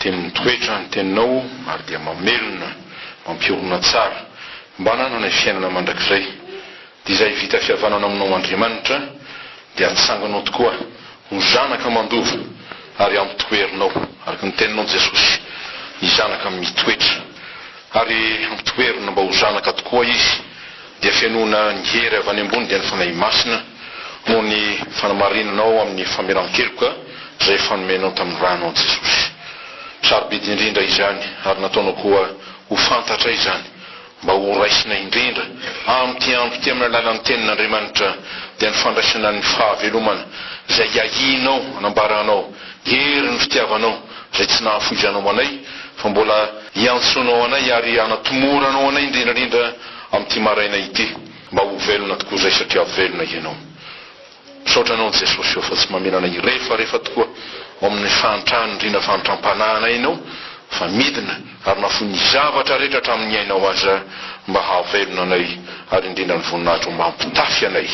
Dia mitoetra ny teninao ary dia mamelona, mampiorina tsara, mba hanananay fiainana mandrakizay. Dia izay vita fihavanana aminao Andriamanitra dia hatsanganao tokoa ho zanaka mandova ary hampitoherinao, araka ny teninao Jesosy, ny zanaka mitoetra. Ary hampitoherina mba ho zanaka tokoa izy. dia fenoina ny hery avy any ambony dia ny Fanahy Masina noho ny fanamarinanao amin'ny famelan-keloka izay efa nomenao tamin'ny rano an'i Jesosy. Sarobidy indrindra izany ary nataonao koa ho fantatra izany mba ho raisina indrindra amin'ity andro ity amin'ny alalan'ny Tenin'Andriamanitra dia ny fandraisana ny fahavelomana izay iahianao hanambaranao herin'ny fitiavanao izay tsy nahafoizanao anay fa mbola iantsoanao anay ary hanatomoranao anay indrindrandrindra Amin'ity maraina ity. Mba ho velona tokoa izay satria velona ianao. Misaotra Anao Jesosy ô fa tsy mamelana hirefarefa tokoa ao amin'ny fahantrahan'ny riana fahantram-panahinay Ianao fa midina ary na foin'ny zavatra rehetra hatramin'ny ainao aza mba hahavelona anay ary indrindra ny voninahitro mba hampitafy anay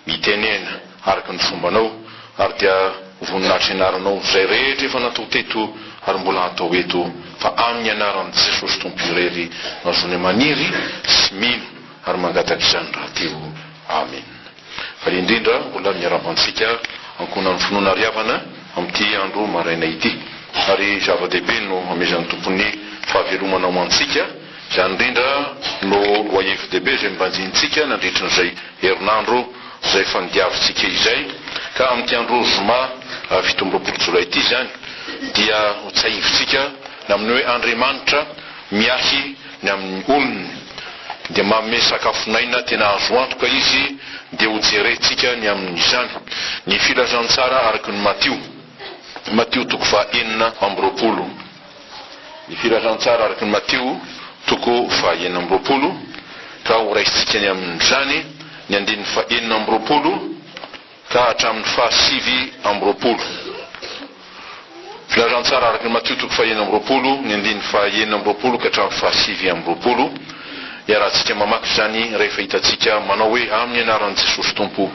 mitenena araka ny fombanao, ary dia ho voninahitry ny anaranao izay rehetra efa natao teto ary mbola hatao eto, fa amin'ny anaran'i Jesosy Tompo irery no azonay maniry sy mino ary mangataka izany rahateo. Amena. Faly indrindra mbola miarahaba antsika ankohonan'ny finoana ary havana amin'ity andro maraina ity. Ary zava-dehibe no hamezan'ny Tompo ny fahavelomana ho antsika. Izany indrindra no lohahevi-dehibe izay nobanjinintsika nandritry izay herinandro izay efa nodiavintsika izay, ka amin'ity andro zoma fito amby roapolo jolay ity izany dia ho tsahivintsika ny amin'ny hoe Andriamanitra miahy ny amin'ny olony dia manome sakafon'aina tena azo antoka Izy dia ho jerentsika ny amin'izany ny filazantsara araka ny Matio Matio toko faha enina amby roapolo Ny filazantsara araka an'i Matio toko faha enina amby roapolo, ka horaisintsika ny amin'izany ny andininy faha enina amby roapolo ka hatramin'ny faha sivy amby roapolo. Filazantsara araka an'i Matio toko faha enina amby roapolo, ny andininy faha enina amby roapolo ka hatramin'ny faha sivy amby roapolo. Iarahantsika mamaky izany rehefa hitantsika manao hoe, Amin'ny anaran'i Jesosy Tompo.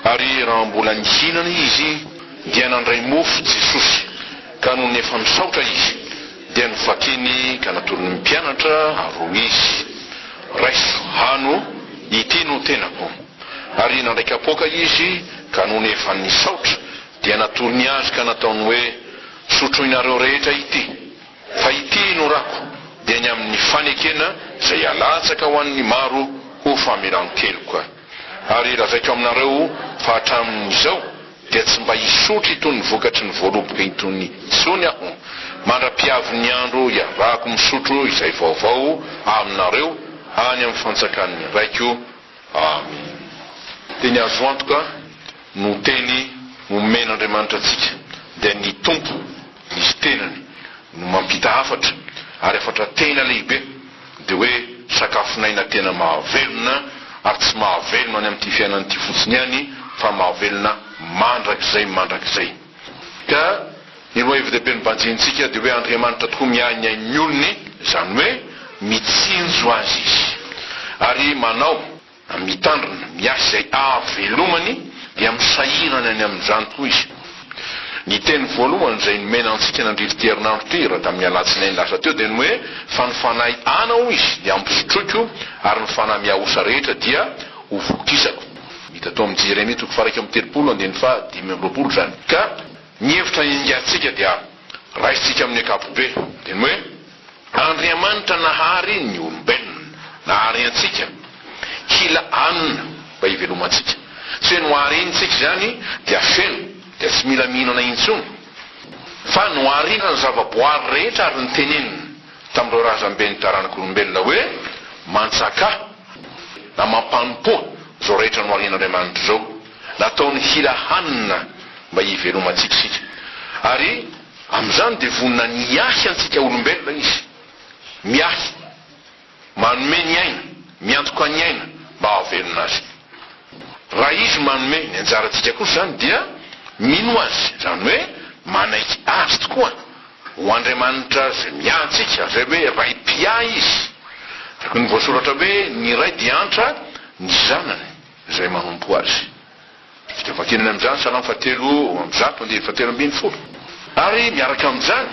Ary raha mbola nihinana izy, dia nandray mofo Jesosy. Ka nony efa misaotra izy dia novakiny ka natolony ny mpianatra ary hoy izy, Raiso, hano, ity no tenako. Ary nandray kapoaka izy, ka nony efa nisaotra dia natolony azy ka nataony hoe, Sotroinareo rehetra ity, fa ity no rako, dia ny amin'ny fanekena izay halatsaka ho an'ny maro ho famelan-keloka. Ary lazaiko aminareo fa hatramin'izao dia tsy mba hisotro itony ny vokatry ny voaloboka itony intsony aho, mandra-piavin'ny andro hiarahako misotro izay vaovao aminareo any amin'ny fanjakan'ny Raiko. Amena. Teny azo antoka no teny nomen'Andriamanitra antsika, dia ny Tompo Izy tenany no mampita hafatra, ary hafatra tena lehibe. Dia hoe sakafon'aina tena mahavelona ary tsy mahavelona any amin'ity fiainana ity fotsiny ihany fa mahavelona mandrakizay mandrakizay. Ka ny lohahevi-dehibe nobanjinintsika dia hoe Andriamanitra tokoa miahy ny ain'ny olony, izany hoe mitsinjo azy Izy ary manao Amin'ny mitandrina, miasa izay hahavelomany dia misahirana ny amin'izany tokoa izy. Ny teny voalohany izay nomena antsika nandrify ity herinandro ity raha tamin'ny alatsinainy lasa teo dia ny hoe, Fa ny fanahy ana, hoy izy, dia hampisotroiko, ary ny fanahy mihaosa rehetra dia hovokisako. Hita tao amin'ny Jeremia toko faha iraika amby telopolo andininy faha dimy amby roapolo izany. Ka ny hevitra iangatsika dia. Raisintsika amin'ny ankapobe, dia ny hoe, Andriamanitra nahary ny olombelona, nahary antsika, kila anona mba hivelomantsika. Tsy hoe noharintsika izany dia feno, dia tsy mila mihinana intsony. Fa noharina ny zava-boary rehetra ary notenenina tamin'ireo razamben'ny taranak'olombelona hoe, Mantsakà, na mampanompoa izao rehetra noharian'Andriamanitra izao. Nataony hira hanina mba hivelomantsika isika. Ary amin'izany dia vonona ny hiahy antsika olombelona Izy. Miahy. Manome ny aina, miantoka ny aina mba hahavelona azy. Raha Izy manome, ny anjarantsika kosa izany dia mino Azy, izany hoe manaiky Azy tokoa ho Andriamanitra izay miahy antsika, izay hoe Ray mpiahy Izy. Araka ny voasoratra hoe, Ny Ray dia antra ny Zanany. izay manompo azy. Dia vakianany amin'izany Salamo fahatelo amby zato andinin'ny fahatelo ambin'ny folo. Ary miaraka amin'izany,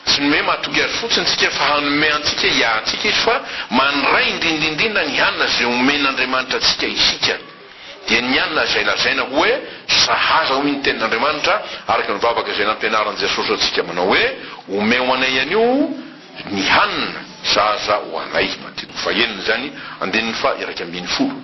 tsy nomeny mahatoky azy fotsiny tsika fa hanome antsika hiahantsika izy fa mandray indrindrindrindra ny hanina izay omen'Andriamanitra antsika isika, dia ny hanina izay lazaina hoe sahaza hoy ny tenin'Andriamanitra araka ny vavaka izay nampianarin'i Jesosy antsika manao hoe, Omeo anay anio, Ny hanina zaza ho anay, Matitiko fahenina izany, andininy faha iraika ambin'ny folo,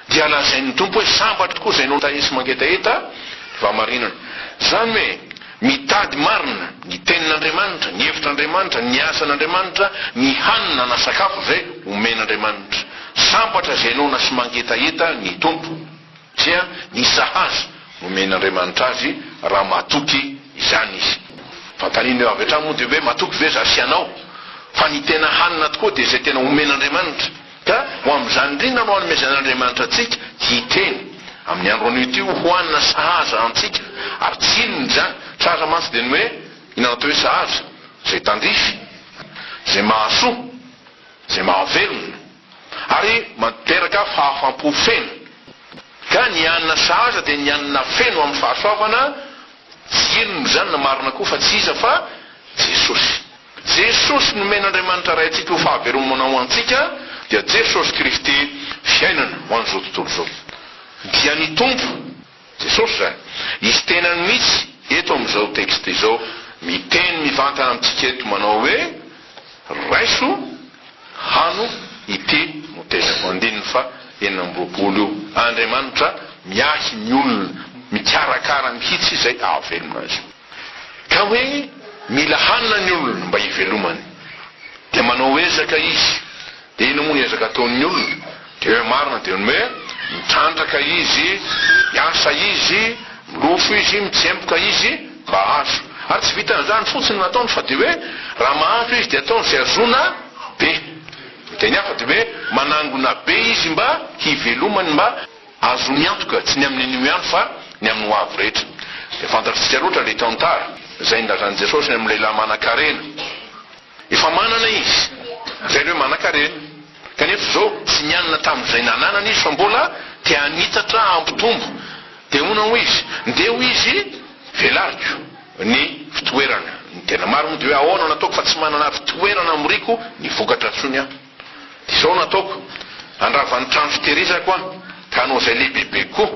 dia lazain'ny Tompo hoe, Sambatra tokoa izay nota-e sy mangetaheta ny fahamarinana. Izany hoe, mitady marina ny Tenin'Andriamanitra, ny hevitr'Andriamanitra, ny asan'Andriamanitra, ny hanina na sakafo izay omen'Andriamanitra. Sambatra izay noana sy mangetaheta ny Tompo. dia ny sahaza nomen'Andriamanitra azy raha matoky izany izy. Fanontaniana eo avy hatrany moa dia hoe matoky ve za sy ianao fa ny tena hanina tokoa dia izay tena omen'Andriamanitra? Ka ho amin'izany indrindra no anomezan'Andriamanitra antsika hiteny amin'ny andro anio ity ho hanina sahaza antsika. Ary tsy inona izany, sahaza mantsy dia ny hoe, inona no atao hoe sahaza? izay tandrify, izay mahasoa, izay mahavelona. ary materaka fahafam-po feno, ka ny anona sahaza dia ny anona feno amin'ny fahasoavana, tsy inona izany na marina koa fa tsy iza fa Jesosy. Jesosy nomen'Andriamanitra Raintsika ho fahavelomana ho antsika dia Jesosy Kristy fiainana ho an'izao tontolo izao. Dia ny Tompo. Jesosy izany. Izy tenany mihitsy eto amin'izao texte izao miteny mivantana amintsika eto manao hoe, raiso, hano, ity no tenako. Andininy faha enina amby roapolo io. Andriamanitra miahy ny olona, mikarakara mihitsy izay ahavelona azy. Ka hoe mila hanina ny olona mba hivelomany. Dia manao ezaka izy. Dia inona moa ny ezaka ataon'ny olona? Dia hoe marina dia ny hoe mitrandraka izy, miasa izy, milofo izy, mitsemboka izy mba hahazo. Ary tsy vitan'izany fotsiny no ataony fa dia hoe raha mahazo izy dia ataony izay hahazoana be. Amin'ny teny hafa dia hoe manangona be izy mba hivelomany, mba. Azony antoka, tsy ny amin'ny anio ihany fa ny amin'ny ho avy rehetra. Dia fantatsika loatra ilay tantara izay nilazan'i Jesosy ny amin'ny lehilahy manankarena. Efa manana izy, izay ilay hoe manankarena. Kanefa izao, tsy nianina tamin'izay nananany izy fa mbola te hanitatra, hampitombo. Dia hono hoy izy, Ndeha hoy izy, Velariko ny fitoerana. Ny tena marina moa dia hoe, Ahoana no ataoko fa tsy manana fitoerana hamoriako ny vokatra intsony aho? Dia izao no ataoko, handrava ny trano fitehirizako aho, ka hanao izay lehibebe koa,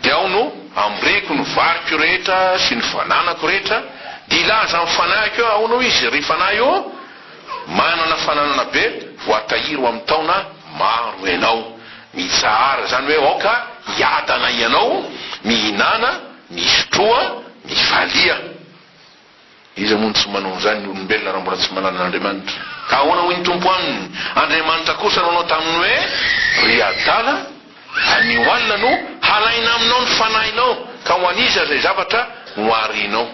dia ao no hamorehiko ny variko rehetra sy ny fananako rehetra, dia hilaza amin'ny fanahiko hoe, Ahoana hoy izy, ry fanahy ô? Manana fananana be, voatahiry ho amin'ny taona maro ianao. Mitsahara izany hoe aoka hiadana ianao, mihinàna, misotroa, mivalia. Iza moa no tsy manao an'izany ny olombelona raha mbola tsy mahalala an'Andriamanitra? Ka ahoana hoy ny Tompo aminy, Andriamanitra kosa nanao taminy hoe, Ry adala, anio alina no halaina aminao ny fanahinao, ka ho an'iza izay zavatra noharianao?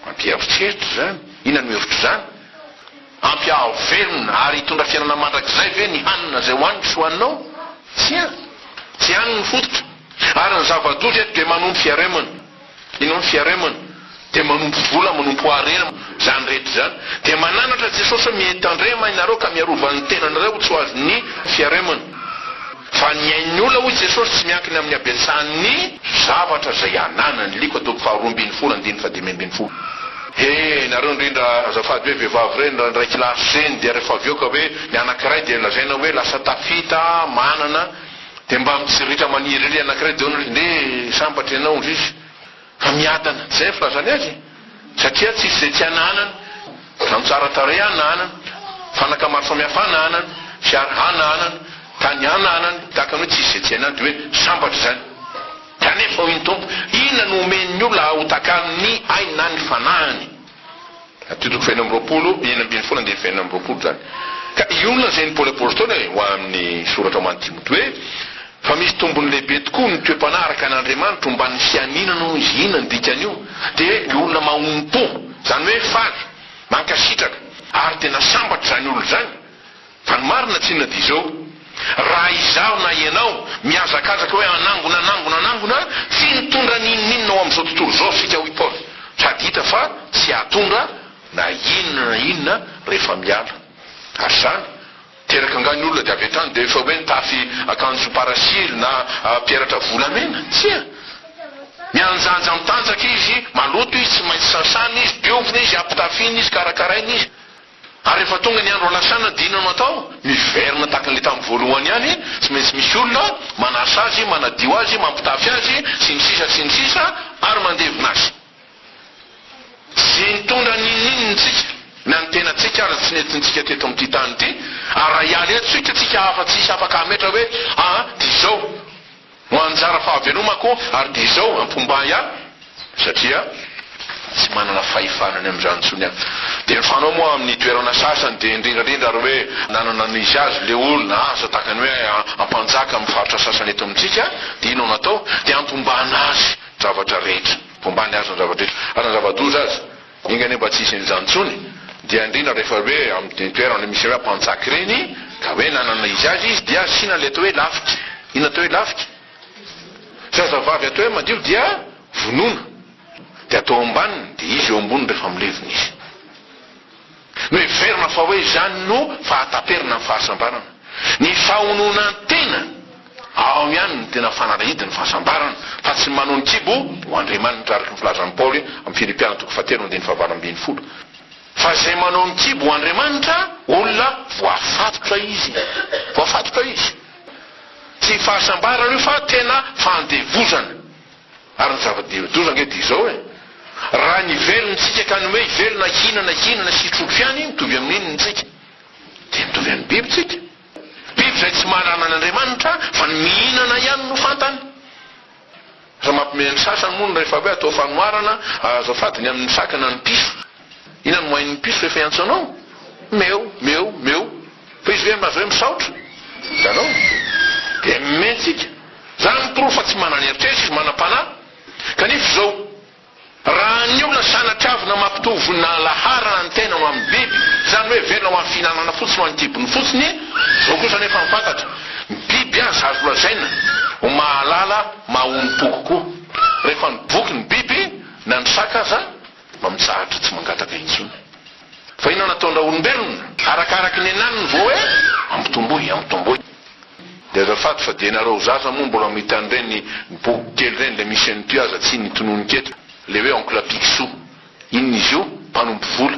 Mampieritreritra izany! Inona no hevitr'izany? Hampiahaho velona ary hitondra fiainana mandrakizay ve ny hanina izay hohaniko sy hohaninao? Tsia! Tsy any ny fototra, ary ny zava-doza eto dia manompo fiaremana. Inona ny fiaremana? Dia manompo vola, manompo harem, izany rehetra izany. Dia mananatra Jesosy hoe mitandrema ianareo ka miarova ny tenanareo ho tsy ho azon'ny fiaremana. Fa ny ain'ny olona, hoy Jesosy, tsy miankina amin'ny habetsahan'ny. Zavatra izay ananany. Lko toko faharoa ambin'ny folo andininy fahadimy ambin'ny folo. He, nareo indrindra azafady hoe vehivavy ireny, raha indray kilasy zeny dia rehefa avy eo ka hoe ny anankiray dia lazaina hoe lasa tafita, manana, Dia mba mitsirritra maniry ery anankiray dia hono ry nde sambatra ianao hozy izy fa miadana, tsy izay ny filazany azy e! satria tsisy izay tsy ananany, trano tsara tarehy ananany, fanaka maro samihafa ananany, fiara ananany, tany ananany, tahaka ny hoe tsisy izay tsy anany dia hoe sambatra izany. Kanefa hoy ny Tompo, inona no homen'ny olona hahotakany ny ainy na ny fanahiny? Toko fahenina amby roapolo, enina ambin'ny folo andininy fahenina amby roapolo izany. Ka i olona izay ny Paoly Apostoly e, ho amin'ny soratra ho an'i Timoty hoe, Fa misy tombony lehibe tokoa ny toe-panahy araka an' Andriamanitra omban' ny fianiana noho izy. Inona ny dikan'io? Dia hoe ny olona mahonom-po, izany hoe faly, mankasitraka, ary dia nasambatra izany olona izany. Fa ny marina tsinona dia izao, raha izaho na ianao mihazakazaka hoe hanangona, hanangona, hanangona, tsy nitondra n'inon'inona ho amin'izao tontolo izao isika hoy Paoly, sady hita fa tsy hahatondra na inona na inona rehefa miala. Ary izany, teraka angaha ny olona dia avy hatrany dia efa hoe nitafy akanjo parasily na peratra volamena? Tsia! Mianjanja mitanjaka izy, maloto izy, tsy maintsy sasana izy, diovina izy, ampitafiana izy, karakaraina izy. Ary rehefa tonga ny andro alasana dia inona no atao? Miverina tahaka ilay tamin'ny voalohany ihany, tsy maintsy misy olona manasa azy, manadio azy, mampitafy azy, sy ny sisa sy ny sisa, ary mandevina azy. Tsy nitondra n'inon'inona isika, na ny tenantsika aza tsy nentintsika teto amin'ity tany ity, ary raha hiala eto isika, tsika hafa tsy hisy afaka hametra hoe, aa, dia izao. No anjara fahavelomako ary dia izao ampombay ahy satria tsy manana fahefana ny amin'izany intsony aho. Dia ny fanao moa amin'ny toerana sasany dia indrindrandrindra ary hoe nanana ny izy azy ilay olona asa tahaka ny hoe ampanjaka amin'ny faritra sasany eto amintsika dia inona no atao dia ampombana azy ny zavatra rehetra. Ampombany azy ny zavatra rehetra ary na zava-doza aza. Enga anie mba tsy hisy an'izany intsony, dia indrindra rehefa hoe amin'ireny toerana misy hoe mpanjaka ireny, ka hoe nanana izy azy izy dia asiana ilay atao hoe lafika, inona atao hoe lafika? zazavavy atao hoe madio dia vonoina, dia atao ambaniny, dia izy eo amboniny rehefa milevina izy. Noheverina fa hoe izany no fahataperana ny fahasambarana. Ny fahononan-tena ao ihany no tena fanalahidin'ny fahasambarana, fa tsy ny manao ny kibo ho andriamanitra, araka ny filazan'i Paoly amin'ny Filipiana toko fahatelo andininy fahavalo ambin'ny folo. Fa izay manao ny kibo ho andriamanitra, olona voafatotra izy. Voafatotra izy. Tsy fahasambarana io fa tena fandevozana. Ary ny zava-doza ange dia izao e! Raha ny velona tsika ka ny hoe velona hinana hinana sy trondro ihany mitovy amin'inona ny tsika? Dia mitovy amin'ny biby tsika. Biby izay tsy mahalala an'Andriamanitra fa ny mihinana ihany no fantany. Raha mampiomehy ny sasany moa ny rehefa hoe atao fanoharana, azo afadiny amin'ny saka na ny piso. Inona no moain'ny piso rehefa hiantso anao? Meo, meo, meo. Fa izy ve azo hoe misaotra? Hitanao? Dia mimeh tsika. Izany miporofo fa tsy manana eritreritra izy, manam-panahy. Kanefa izao, raha ny olona sanatria avy namaky toa vonona laharana ny tenany ho amin'ny biby, izany hoe velona ho an'ny fihinanana fotsiny, ho an'ny kibony fotsiny, izao kosa anefa ny fantatra, ny biby aza azo lazaina ho mahalala, mahaonim-po kokoa. Rehefa miboky ny biby, na ny saka aza, mba mitsahatra tsy mangataka intsony fa inona nataondraolombelona arakaraky ny anany ny vao hoe ampitomboy ampitomboy de azafady fa de nareo zaza moa mbola mita an'ireny boky kely ireny le misy an'ity aza tsy nitononika eto le hoe oncle picsou inona izy io mpanompo vola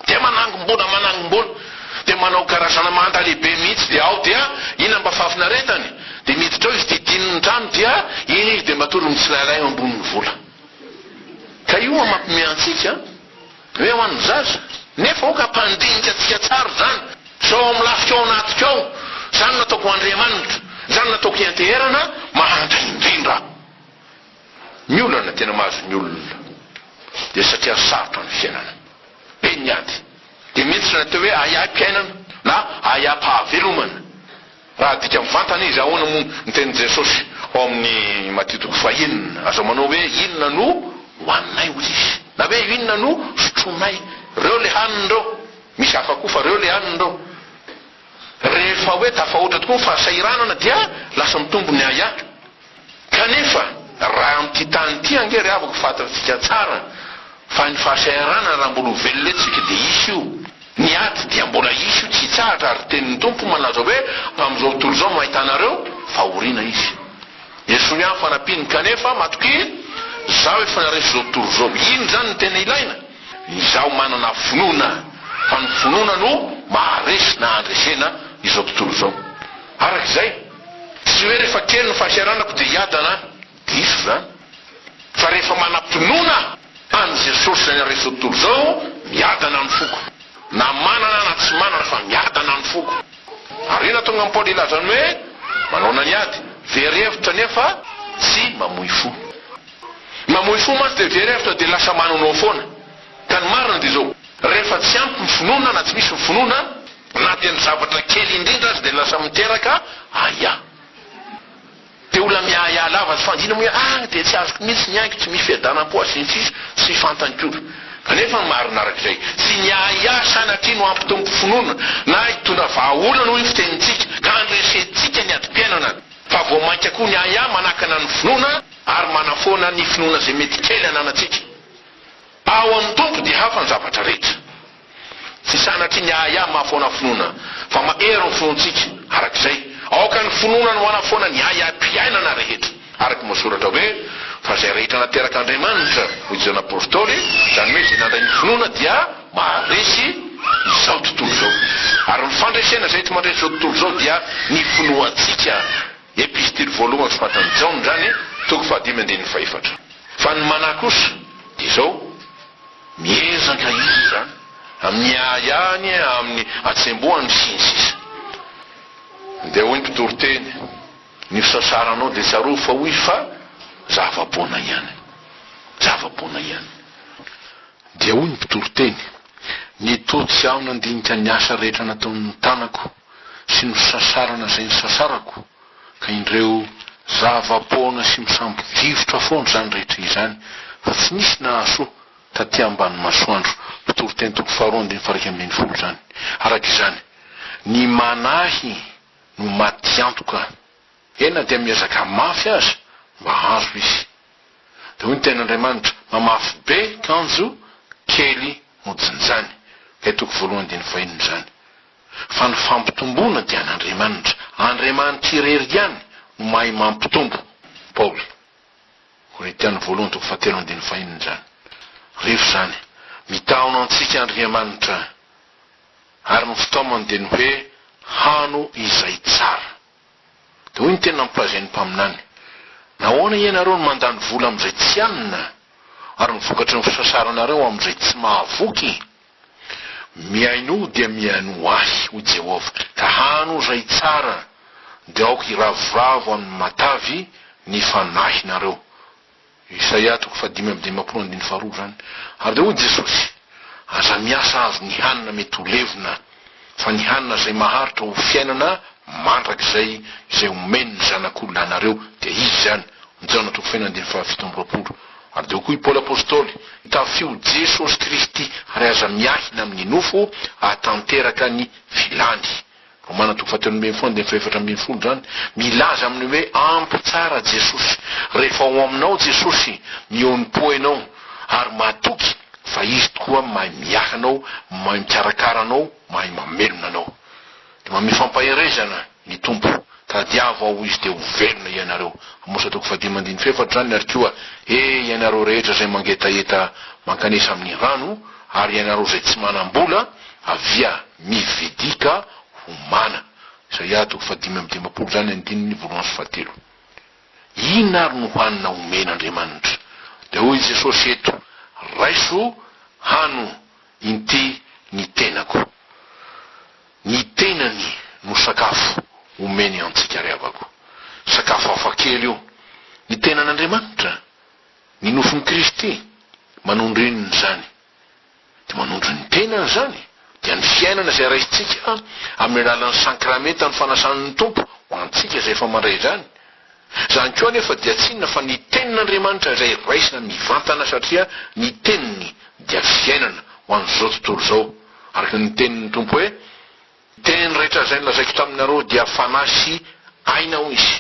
Dia manangom-bola manangom-bola dia manao karazana manda lehibe mihitsy dia ao dia inona mba fahafinaretany? Dia miditra ao izy dia dino ny trano dia iny izy dia matory mitsilailay eo ambonin'ny vola. Ka io an mampiomehy antsika hoe ho an'ny zaza. Nefa aoka hampandinika antsika tsara izany sao ao amin'ny lafiko ao anatiko ao, izany nataoko ho Andriamanitra, izany nataoko hianteherana mahantra indrindra. Ny olana tena mahazo ny olona dia satria sarotra ny fiainana, be ny ady, dia miditra ny atao hoe ahiahim-piainana na ahiaham-pahavelomana. Raha adika mivantana izy, ahoana moa ny tenin'i Jesosy ao amin'ny Matio toko fahenina? Aza manao hoe inona no hohaninay, hoy izy, na hoe inona no sotroinay. Reo le haniny reo. Misy hafa koa fa reo le haniny reo. Rehefa hoe tafahoatra tokoa ny fahasahiranana dia lasa mitombo ny ahiahy. Kanefa raha amin'ity tany ity ange ry havako fatantsika tsara fa ny fahasahiarana raha mbola ho velona eto tsika dia hisy io, ny ady dia mbola hisy io tsy hitsahatra ary tenin'ny Tompo malaza hoe amin'izao tontolo izao no ahitanareo fahoriana izy. Esory aho ny fanampiany kanefa matokia zaho efa naresy izao tontolo izao. Iny izany no tena ilaina, ny izaho manana finoana fa ny finoana no maharesy na handresena izao tontolo izao. Araka izay. Tsy hoe rehefa kely ny fahasahiranako dia hiadana aho, diso izany, fa rehefa manam-pinoana an'i Jesosy izay naharesy izao tontolo izao, miadana ny foko. Na manana na tsy manana fa miadana ny foko. Ary inona no hahatonga an'i Paoly hilaza ny hoe manaona ny ady? Very hevitra nefa tsy mamoy fo. Ny mamoy fo mantsy dia very hevitra dia lasa manao foana. Ka ny marina dia izao, rehefa tsy ampy ny finoana na tsy misy ny finoana, na dia ny zavatra kely indrindra aza dia lasa miteraka ahiahy. Dia olona miahiahy lava tsy fandinina moa hoe ah dia tsy azoko mihitsy ny aiko, tsy misy fiadanam-po aho sy ny sisa Tsy fantany koa. Kanefa ny marina araka izay, tsy ny ahiahy sanatria no hampitombo finoana na hitondra vahaolana hoy ny fitenintsika ka handresentsika ny adim-piainana, fa vao mainka koa ny ahiahy manakana ny finoana ary manafoana ny finoana izay mety kely ananantsika. Ao amin'ny Tompo dia hafa ny zavatra rehetra. Tsy sanatria ny ahiahy mahafoana finoana, fa mahery ny finoantsika. Araka izay, aoka ny finoana no manafoana ny ahiahim-piainana rehetra. Araka ny voasoratra hoe, Fa izay rehetra nateraka Andriamanitra, hoy Jaona Apostoly, izany hoe izay nandray ny finoana dia maharesy izao tontolo izao. Ary ny fandresena izay ety mandresy izao tontolo izao dia ny finoantsika. Epistily voalohany soratan'i Jaona izany, toko fahadimy andininy fahefatra. Fa ny manahy kosa dia izao, miezaka izy izany amin'ny ahiahiny, amin'ny hatsembohany, sy ny sisa. Dia hoy ny mpitoriteny, Ny fisasaranao dia tsarovy fa hoy fa zava-poana ihany. Zava-poana ihany. Dia hoy ny mpitoriteny, Ny toa tsy aho nandinika ny asa rehetra nataon'ny tanako. sy nosasarana izay nosasarako ka indreo zava-poana sy misambo-drivotra foana izany rehetra izany fa tsy nisy nahasoa taty ambany masoandro mpitory teny toko faharoa andininy faha iraika ambin'ny folo izany araka izany ny manahy no maty antoka e na dia miezaka mafy aza mba hahazo izy dia hoy ny tenin'Andriamanitra mamafy be kanjo kely no jinjany ilay toko voalohany andininy fahenina izany fa ny fampitomboana dia an'Andriamanitra, Andriamanitra irery ihany no mahay mampitombo. Paoly. Korintiana voalohany toko fahatelo andininy fahenina izany. Rehefa izany, mitaona antsika Andriamanitra, ary ny fitaomany dia ny hoe hano izay tsara. Hoy ny teny nampilazain'ny mpaminany, Nahoana ianareo no mandany vola amin'izay tsy hanina, ary ny vokatry ny fisasaranareo amin'izay tsy mahavoky? Mihainoa ho dia mihainoa Ahy, hoy Jehovah, ka hano izay tsara, dia aoka hiravoravo amin'ny matavy ny fanahinareo. Isaia toko fahadimy amby dimampolo andininy faharoa izany. Ary dia hoy Jesosy, Aza miasa azy ny hanina mety ho levona, fa ny hanina izay maharitra ho fiainana mandrakizay izay omeny ny Zanak'olona anareo, dia izy izany. Jaona toko faheno andininy fahafito amby roapolo. Ary dia hoy koa i Paoly Apostoly, Tafio Jesosy Kristy, ary aza miahina amin'ny nofo hahatanteraka ny filany. Romana toko fahatelo ambin'ny folo andininy fahefatra ambin'ny folo izany milaza amin'ny hoe ampy tsara Jesosy. Rehefa ao aminao Jesosy, mihaonim-po ianao ary mahatoky fa Izy tokoa mahay miahy anao, mahay mikarakara anao, mahay mamelona anao. Dia manome fampaherezana ny Tompo, Tadiavo Aho Izy dia ho velona ianareo. Amosa toko fahadimy andininy fahefatra izany ary koa, He ianareo rehetra izay mangetaheta mankanesa amin'ny rano ary ianareo izay tsy manam-bola, avia, Ny Vedika Homana, Isaia toko fahadimy amby dimampolo izany andininy voalohany sy fahatelo. Inona ary no hanina omen' Andriamanitra? Dia hoy i Jesosy eto, Raiso, hano, inty ny tenako. Ny tenany no sakafo omeny antsika ry havako. Sakafo hafa kely io. Ny tenan' Andriamanitra? Ny nofon' i Kristy? Manondro inona izany? Dia manondro ny tenany izany dia ny fiainana izay raisintsika amin'ny alalan'ny Sankramentan'ny Fanasan'ny Tompo ho antsika izay efa mandray izany. Izany koa anefa dia tsy inona fa ny Tenin'Andriamanitra izay raisina mivantana satria ny Teniny dia fiainana ho an'izao tontolo izao. Araka ny tenin'ny Tompo hoe, Teny rehetra izay nolazaiko taminareo dia fanahy sy aina hoy Izy.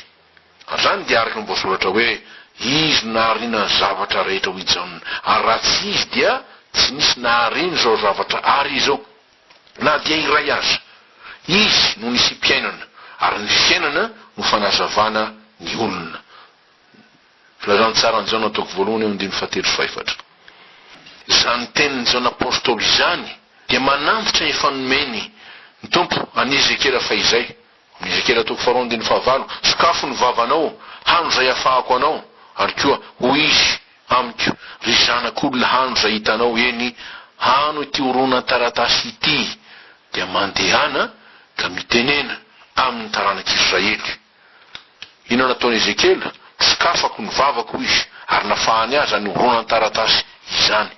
Avy any dia araka ny voasoratra hoe, Izy nahariana ny zavatra rehetra hoy Jaona, ary raha tsy Izy dia tsy nisy nahariany izao zavatra àry izao, na dia iray aza. Izy no nisiam-piainana, ary ny fiainana no fanazavana ny olona. Filazantsaran'i Jaona toko voalohany ao andininy fahatelo sy fahefatra. Izany tenin'i Jaona apostoly izany dia manantitra efa nomeny ny Tompo an'i Ezekiela fahizay. Mizekela toko faharoa andininy fahavalo, Sokafo ny vavanao, hano izay hafahako anao, ary koa, hoy Izy, amiko, Ry zanak'olona hano izay hitanao, eny, hano ity horonan-taratasy ity, dia mandehana ka mitenena amin'ny taranak'Israely. Inona nataon'i Ezekiela? Sokafako ny vavako, hoy izy, ary nafahany azy izany horonan-taratasy izany.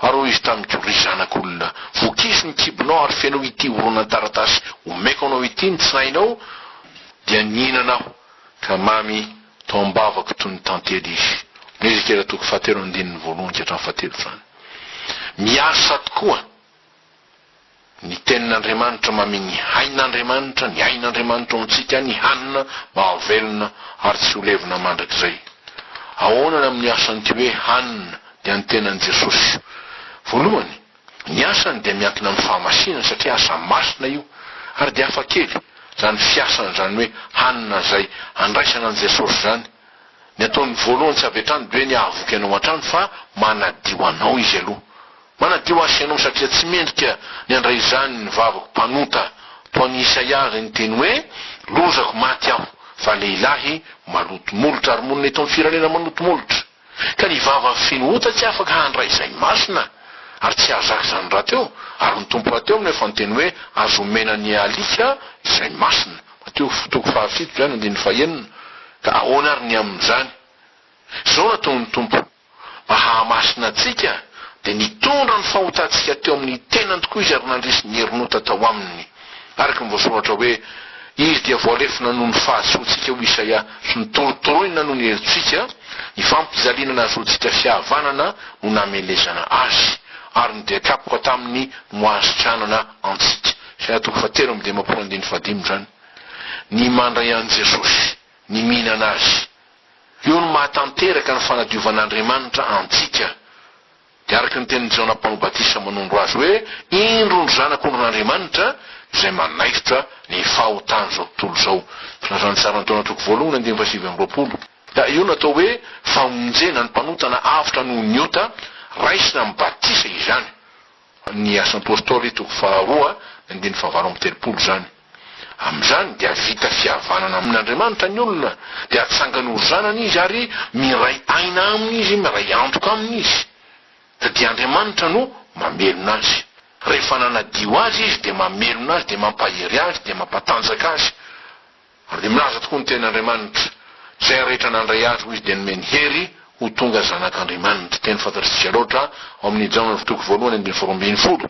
Ary hoy izy tamiko, Ry zanak'olona, vokizo ny kibonao ary feno ity horonan-taratasy omeko anao ity ny tsinainao, dia nihinana aho, ka mamy tao am-bavako toy ny tantely izy. Ny Ezekiela toko fahatelo andininy voalohany ka hatramin'ny fahatelotrany. Miasa tokoa! Ny Tenin'Andriamanitra mamia ny hain'Andriamanitra, ny ain'Andriamanitra ao amintsika, ny hanina mahavelona ary tsy ho levona mandrakizay. Ahoana ny amin'ny asan'ity hoe hanina ny an'ny tenan'i Jesosy? Voalohany, ny asany dia miankina amin'ny fahamasinany satria asa masina io, ary dia hafa kely izany fiasana izany hoe hanina izay andraisana an'i Jesosy izany. Ny ataony voalohany tsy avy hatrany dia hoe ny hahavoky anao hatrany fa manadio anao izy aloha. Manadio ahy ianao satria tsy mendrika ny handray izany ny vavako mpanota toa an'i Isaia izay niteny hoe, Lozako maty aho, fa lehilahy maloto molotra ary monina eto amin'ny firenena maloto molotra. Ka ny vava feno ota tsy afaka handray izay masina ary tsy hahazaka izany rahateo ary ny Tompo rahateo no efa niteny hoe, Aza omena ny alika izay masina. Mateo fo toko fahafito izany andininy fahenina. Ka ahoana ary ny amin'izany? Izao no ataon'ny Tompo. mba hahamasina antsika, dia nitondra ny fahotantsika teo amin'ny tenany tokoa izy ary nandresy ny herin'ota tao aminy. Araka ny voasoratra hoe, Izy dia voalefona noho ny fahadisoantsika, hoy Isaia, sy notorotoroina noho ny helotsika, ny fampijaliana nahazoantsika fihavanana no namelezana Azy, ary ny dia-kapoka taminy no ahasitranana antsika. Isaia toko fahatelo amby dimampolo andininy fahadimy izany. Ny mandray an'i Jesosy, ny mihinana Azy. Io no maha tanteraka ny fanadiovan'Andriamanitra antsika. Dia araka ny tenin'i Jaona mpanao batisa manondro azy hoe, Indro ny Zanak'ondrin'Andriamanitra izay manaikitra ny fahotan'izao tontolo izao. Filazan'ny Saran-taona toko voalohany andininy fahasivy amby roapolo. Ka io no atao hoe famonjena ny mpanota na avotra noho ny ota raisina amin'ny batisa izany. Ny Asan'ny Apôstôly, toko faharoa, andininy fahavalo amby telopolo izany. Amin'izany dia vita fihavanana amin'Andriamanitra ny olona, dia atsangany ho zanany izy ary miray aina aminy izy, miray antoka aminy izy. Dia Andriamanitra no mamelona azy. Rehefa nanadio azy izy dia mamelona azy, dia mampahery azy, dia mampatanjaka azy. Ary dia milaza tokoa ny teny Andriamanitra, Izay rehetra nandray Azy ho Izy dia nomeny hery ho tonga zanak'Andriamanitra. Teny fantatr'isika loatra ao amin'ny Jaona ny toko voalohany andininy faharoa ambin'ny folo.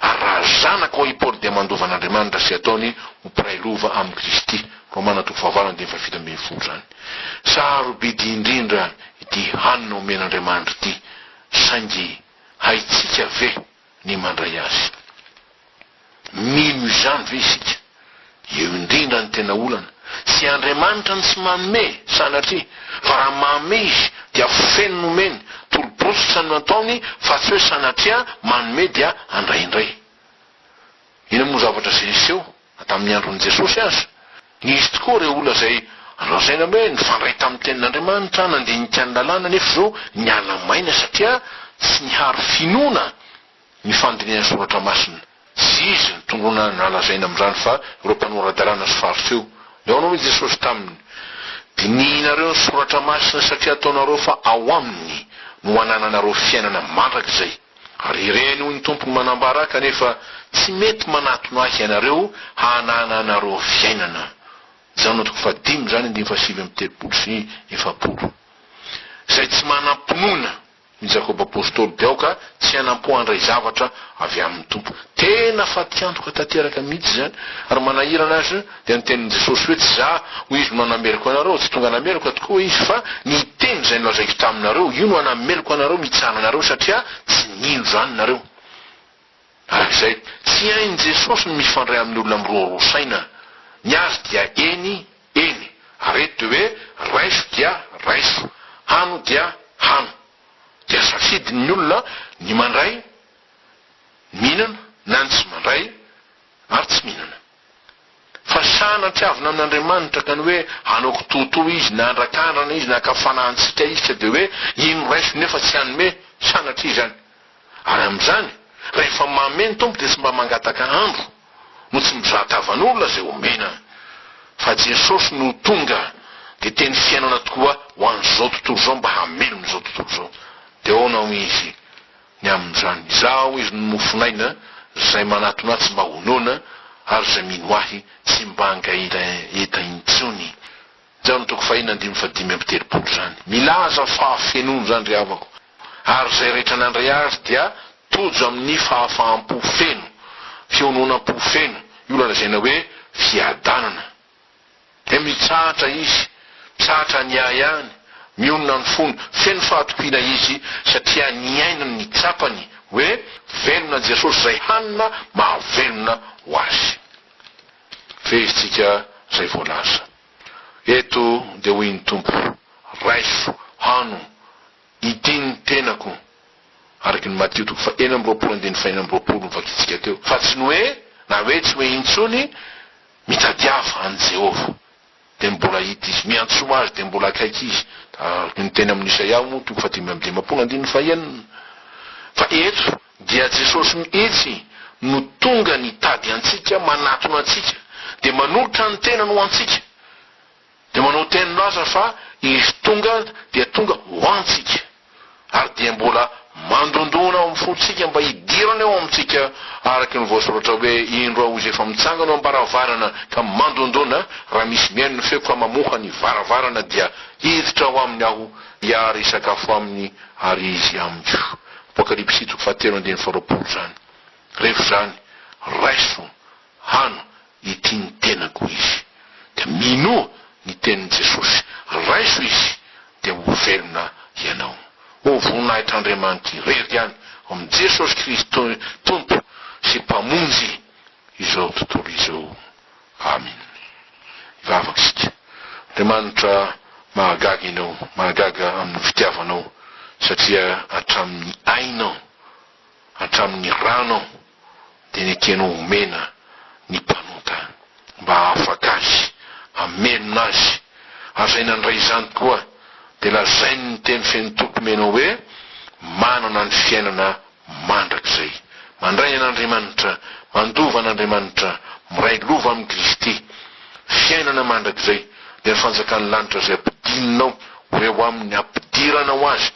Ary raha zanaka hoy i Paoly dia mandova an'Andriamanitra sy ataony ho mpiray lova amin'i Kristy. Romana toko fahavalo andininy fahafito ambin'ny folo izany. Sarobidy indrindra ity hanina omen'Andriamanitra ity, saingy haintsika ve? ny mandray azy. Mino izany ve isika? Eo indrindra ny tena olana, tsy Andriamanitra ny tsy manome, sanatria, fa raha manome Izy dia feno ny omeny, tolo-bosotra no ataony fa tsy hoe sanatria manome dia handray indray. Inona moa zavatra izay hiseho Na tamin'ny andron'i Jesosy aza, nisy tokoa ireo olona izay lazaina hoe nifandray tamin'ny Tenin'Andriamanitra, nandinika ny Lalàna, nefa izao niala maina satria tsy niharo finoana ny fandinihan'ny Soratra Masina. Tsy izy ny tongona nalazaina amin'izany fa ireo mpanora-dalàna sy Fariseo. Nihaona hono i Jesosy taminy, Dinihinareo ny Soratra Masina satria ataonareo fa ao aminy no anananareo fiainana mandrakizay. Ary ireny hoy ny Tompo no manambara kanefa tsy mety manatona Ahy ianareo hanana anareo fiainana. Jaona toko fahadimy izany andininy fahasivy amby telopolo sy efapolo. Izay tsy manam-pinoana ny Jakoba Apostoly dia aoka tsy hanampo handray zavatra avy amin'ny Tompo. Tena fatiantoka tanteraka mihitsy izany ary manahirana aza. Dia niteny Jesosy hoe tsy za hoy izy no hanameloka anareo, tsy tonga hanameloka tokoa izy fa ny teny izay nolazaiko taminareo io no hanameloka anareo mitsanga anareo satria tsy nino izany nareo. Araka izay tsy hain'i Jesosy ny mifandray amin'ny olona miroaroa saina, ny azy dia eny, eny, ary eto dia hoe raiso dia raiso, hano dia hano. Dia safidiny ny olona ny mandray, mihinana, na ny tsy mandray ary tsy mihinana. Fa sahy nampihavina amin'Andriamanitra ka ny hoe hanao kitoatoa Izy na handrakandrana Izy na haka fanahintsika Izy ka dia hoe iny no raisiko nefa tsy hanome, sanatria izany. Ary amin'izany, rehefa maome ny Tompo dia tsy mba mangataka andro no tsy mizaha tavan'olona izay omena, fa Jesosy no tonga dia teny fiainana tokoa ho an'izao tontolo izao mba hamelona izao tontolo izao. Dia ahoana hoy Izy? ny amin'izany. Izaho hoy izy no mofon'aina, izay manatona ahy tsy mba ho noana, ary izay mino ahy tsy mba hangaira enta intsony. Jaona toko fahiny andimy faha dimy amby telopolo izany. Milaza fahafenoany izany ry havako, ary izay rehetra nandray azy dia tojo amin'ny fahafaham-po feno, fiononam-po feno, io lazaina hoe fiadanana. dia mitsahatra izy, mitsahatra ny ahy any, mionona ny fony, feno fahatokiana izy satria nihaino ny tsapany hoe velona Jesosy izay hanina mahavelona ho azy. Fehezitsika izay voalaza eto dia hoy ny Tompo, Raiso, hano, itia ny tenako, araka ny Matio toko faha enina amby roapolo andininy faha enina amby roapolo novakitsika teo, fa tsy ny hoe, na hoe tsy hoe intsony, Mitadiava an'i Jehovah, dia mbola hita izy. Miantsoma azy, dia mbola akaiky izy. Araka ny teny amin'ny Isaia moa, toko fahadimy amby dimampolo andininy fahenina. Fa eto dia Jesosy mihitsy no tonga nitady antsika, manatona antsika, dia manolotra ny tenany ho antsika. Dia manao teny milaza fa izy tonga dia tonga ho antsika, ary dia mbola mandondona ao amin'ny fontsika mba hidirany ao amintsika, araka ny voasoratra hoe, Indro aho izay efa mitsangana eo am-baravarana ka mandondona, raha misy mihaino ny feoko ka mamoha ny varavarana dia hiditra ao aminy aho, dia ary hisakafo aminy ary izy amiko. Apokalypsy toko fahatelo andininy faharoapolo izany. Rehefa izany, raiso Hano ity ny tenako izy dia minoa ny tenin'i Jesosy, raiso izy dia ho velona ianao. Ô voninahitr'Andriamanitra irery ihany ao amin'i Jesosy Kristy Tompo sy Mpamonjy izao tontolo izao. Amen. Hivavaka isika. Andriamanitra mahagaga ianao, mahagaga amin'ny fitiavanao satria hatramin'ny ainao, hatramin'ny ranao, dia nekeny ho omena ny mpanota mba hahafaka azy, hamelona azy, ary izay nandray izany tokoa dia lazainy ny teny feno toky omena hoe, Manana ny fiainana mandrakizay. Mandray an'Andriamanitra, mandova an'Andriamanitra, miray lova amin'i Kristy. Fiainana mandrakizay, dia ny fanjakan'ny lanitra izay ampidinina ao ho eo aminy, ampidirana ho azy.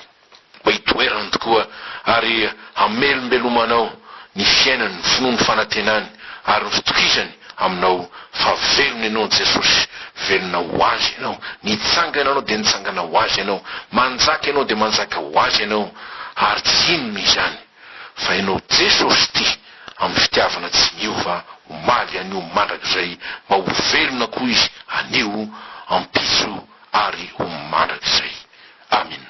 mba hitoerany tokoa ary hamelombelomanao ny fiainany, ny finoany, ny fanantenany ary ny fitokisany aminao fa velona ianao ny Jesosy, velona ho Azy ianao, nitsangana ianao dia nitsangana ho Azy ianao, manjaka ianao dia manjaka ho Azy ianao ary tsy inona izany fa ianao Jesosy tia amin'ny fitiavana tsy miova omaly anio mandrakizay mba ho velona koa Izy anio ampitso ary ho mandrakizay. Amina.